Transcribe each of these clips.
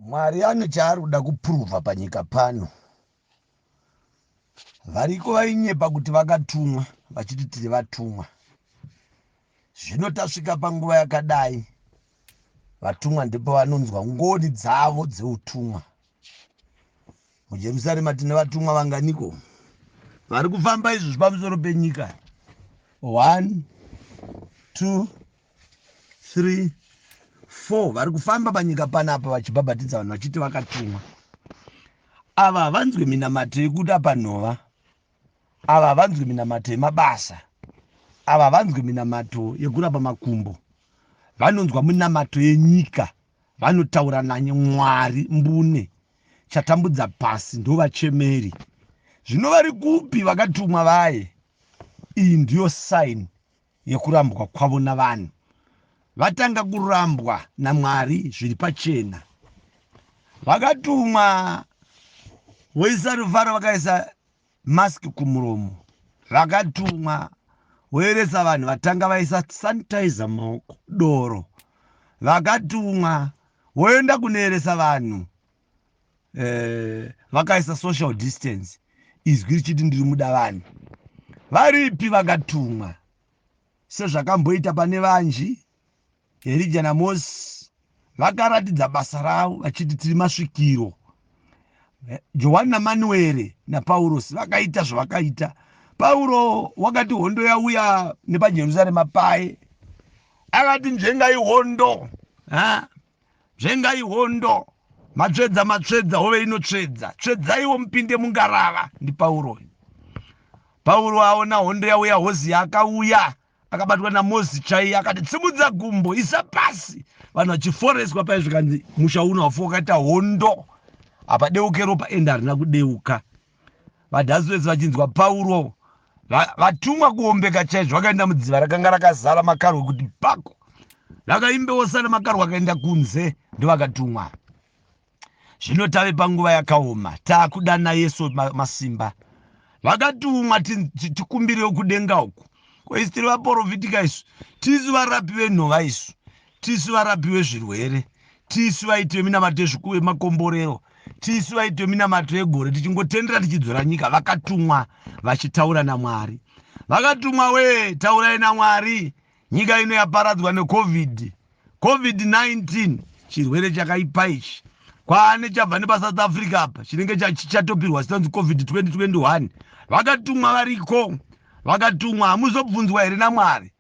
Mwari ane chaari kuda kupuruvha panyika pano. Variko vainyepa kuti vakatumwa vachiti tiri vatumwa. Zvino tasvika panguva yakadai, vatumwa ndipo vanonzwa ngoni dzavo dzeutumwa. MuJerusarema tine vatumwa vanganiko vari kufamba izvozvi pamusoro penyika? One, two, 3 4 vari kufamba panyika panapa vachibhabhatidza vanhu vachiti vakatumwa ava havanzwi minamato yekuda panhova ava havanzwi minamato yemabasa ava havanzwi minamato yekurapa makumbo vanonzwa minamato yenyika vanotaura nanye mwari mbune chatambudza pasi ndovachemeri zvino vari kupi vakatumwa vaye iyi ndiyo saini yekurambwa kwavo navanhu vatanga kurambwa namwari zviri pachena vakatumwa voisa ruvharo vakaisa mask kumuromo vakatumwa voeresa vanhu vatanga vaisa sanitizer maoko doro vakatumwa voenda kunoeresa vanhu eh, vakaisa uh, social distance izwi richiti ndiri muda vanhu varipi vakatumwa sezvakamboita pane vanji herija namosi vakaratidza basa ravo vachiti tiri masvikiro eh, johani namanuere napaurosi vakaita zvavakaita pauro wakati hondo yauya nepajerusarema paye akati nzvengai hondo ha? Dzvengai hondo, matsvedza matsvedza, hove inotsvedza. Tsvedzaiwo mupinde mungarava, ndiPauro. Pauro aona hondo yauya, hozi akauya akabatwa namozi chaiye akati tsimudza gumbo isa pasi vanhu vachiforeswa paye zvikanzi musha uno hafu wakaita hondo hapadeuke ropa ende harina kudeuka VaDaswes vachinzwa Pauro vatumwa kuombeka chaizvo vakaenda mudziva rakanga rakazara makarwe kuti pako vakaimbewo sana makarwe akaenda kunze ndovakatumwa zvino tave panguva yakaoma taakudana yesu masimba vakatumwa tikumbirewo kudenga uku koisitiri vaporofita isu tisu varapi venhova isu tisu varapi wezvirwere tisu vaiti veminamato yezvikuwe makomborero tisu vaiti veminamato yegore tichingotendera tichidzora nyika vakatumwa vachitaura namwari vakatumwa wee taurai namwari nyika ino yaparadzwa necovid covid-19 chirwere chakaipa ichi kwaane chabva nepasouth africa apa chinenge chichatopirwa sinonzi covid 2021 vakatumwa variko vakatumwa hamuzobvunzwa here namwari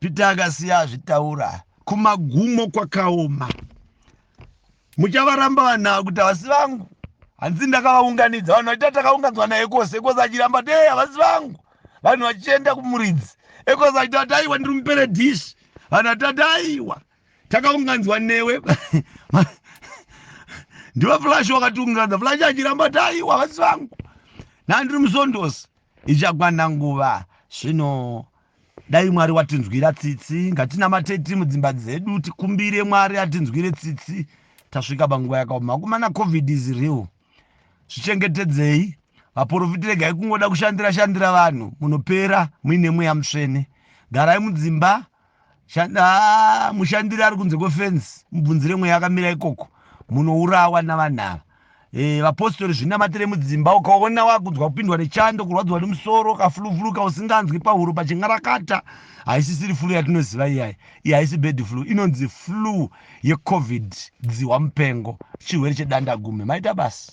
Peter akasiya azvitaura kumagumo kwakaoma muchavaramba vanhu ava kuti havasi vangu hanzi ndakavaunganidza vanhu vachiita takaunganzwa naye kose ekose achiramba kuti ee havasi vangu vanhu vachienda kumuridzi ekose achita kuti aiwa ndiri mupere dish vanhu vatati aiwa takaunganzwa newe ndiva flash wakatiunganza flash achiramba kuti aiwa havasi vangu nandiri musondosi ichakwana nguva zvino Dai Mwari watinzwira tsitsi, ngatinamatei tiri mudzimba dzedu tikumbire Mwari atinzwire tsitsi tasvika panguva yakaoma. Vakomana covid is real. Zvichengetedzei. Vaporofiti regai kungoda kushandira shandira vanhu munopera muine mweya mutsvene. Garai mudzimba mushandiri ari kunze kwefensi mubvunzire mweya akamira ikoko munourawa navanhu ava. Eh, vapostori zvinamatire mudzimba ukaona wakunzwa kupindwa nechando kurwadziwa nemusoro kafuluvuluka usinganzwi pahuro pachin'arakata haisisiri flu yatinoziva iyayi iyi haisi bed flu inonzi flu yecovid dzihwa mupengo chirwere chedanda gume maita basi